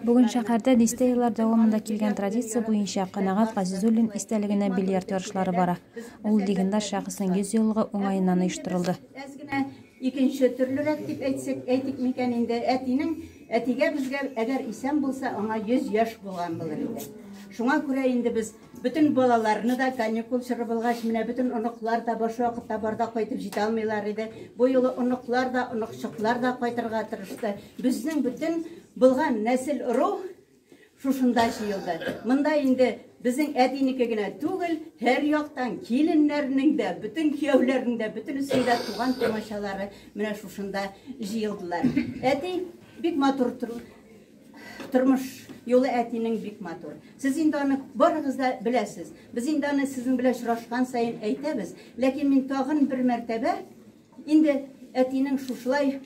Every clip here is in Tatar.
Бүген шәһәрдә дистә еллар дәвамында килгән традиция буенча Канагат Газизуллин истәлегенә бильярд ярышлары бара. Ул легендар шәхеснең 100 еллыгы уңаеннан оештырылды. Икенче төрлерәк дип әйтсәк, әйтик микән инде, әтинең әтигә безгә әгәр исән булса, аңа 100 яшь булган булыр иде. Шуңа күрә инде без Бөтен балаларны да каникул чоры булгач, менә бөтен оныклар да баш вакытта барда кайтып җитә алмыйлар иде. Бу юлы оныклар да, оныкчыклар да кайтырга тырышты. Безнең бөтен булган нәсел рух шушында җыелды. Монда инде безнең әтинеке генә түгел, һәр яктан киленнәрнең дә, бөтен кияүләрнең дә, бөтенесенең дә туган тумачалары менә шушында җыелдылар. Әти бик матур Тормыш юлы әтинең бик матур. Сез инде аны барыгыз да беләсез. Без инде аны сезнең белән очрашкан саен әйтәбез. Ләкин мин тагын бер мәртәбә инде әтинең шушылай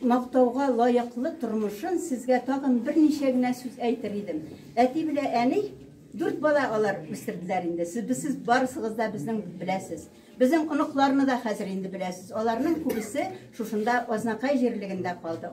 мактауга лаеклы тормышын сезгә тагын берничә генә сүз әйтер идем. Әти белән әни дүрт бала алар үстерделәр инде. Сез сез барысыгыз да безнең беләсез. Безнең оныкларны да хәзер инде беләсез. Аларның күбесе шушында Азнакай җирлегендә калды.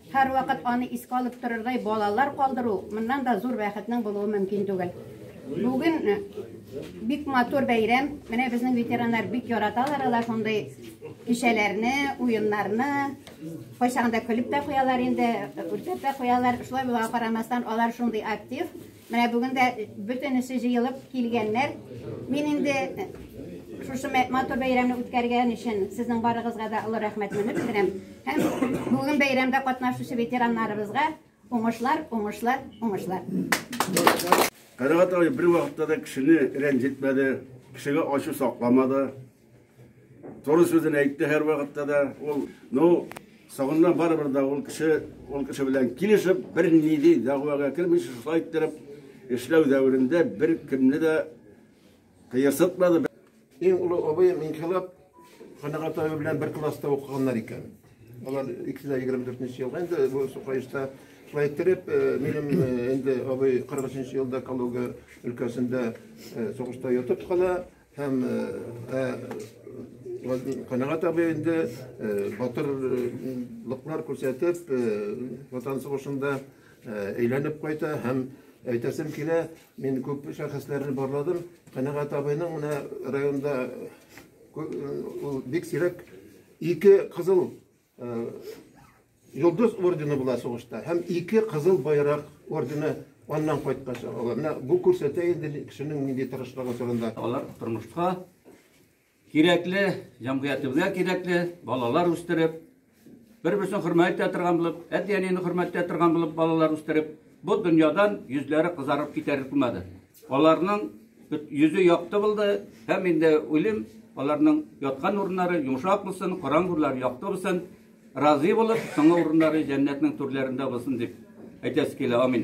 Һәрвакыт аны искә алып торырдай балалар калдыру моннан да зур бәхетнең булуы мөмкин түгел. Бүген э, бик матур бәйрәм. Менә безнең ветераннар бик яраталар алар шундый кичәләрне, уеннарны. Кайчагында көлеп тә куялар инде, үртәп тә куялар. Шулай була карамастан алар шундый актив. Менә бүген дә бөтенесе җыелып килгәннәр. Мин инде шушы матур бәйрәмне үткәргән өчен сезнең барыгызга да олы рәхмәтне белдерәм. Һәм бүген бәйрәмдә катнашучы ветераннарыбызга уңышлар, уңышлар, уңышлар. Карагат абый бер вакытта да кешене рәнҗетмәде, кешегә ачу сакламады. Туры сүзен әйтте һәр вакытта да. Ул, ну, соңыннан барыбер дә ул кеше, ул кеше белән килешеп, бер ниди дәгъвага кермичә шулай иттереп эшләү дәверендә бер кемне дә кыерсытмады. Иң олы абыем Инкыйлаб Канәгать абый белән бер класста укыганнар икән. Алар икесе дә 24 елга инде бу Сукаешта шулай иттереп, э, минем э, инде абый 43 елда Калуга өлкәсендә э, сугышта ятып кала. Һәм Канәгать абый инде батырлыклар күрсәтеп, Ватан сугышында әйләнеп кайта һәм әйтәсем килә, мин күп шәхесләрне барладым. Канәгать абыйның менә районда ул бик сирәк ике кызыл Йолдыз ордены була сугышта һәм ике кызыл байрак ордены аннан кайткач алар. Менә бу күрсәтә инде кешенең нинди тырышлыгы турында. Алар тормышка кирәкле, җәмгыятебезгә кирәкле балалар үстереп, бер-берсен хөрмәт итә торган булып, әти-әнине хөрмәт итә торган булып балалар үстереп, бу дөньядан йөзләре кызарып китәр булмады. Аларның йөзе якты булды һәм инде уйлыйм, аларның яткан урыннары йомшак булсын, караң урлары якты булсын, разый булып, соңгы урыннары җәннәтнең түрләрендә булсын дип әйтәсе килә. Амин.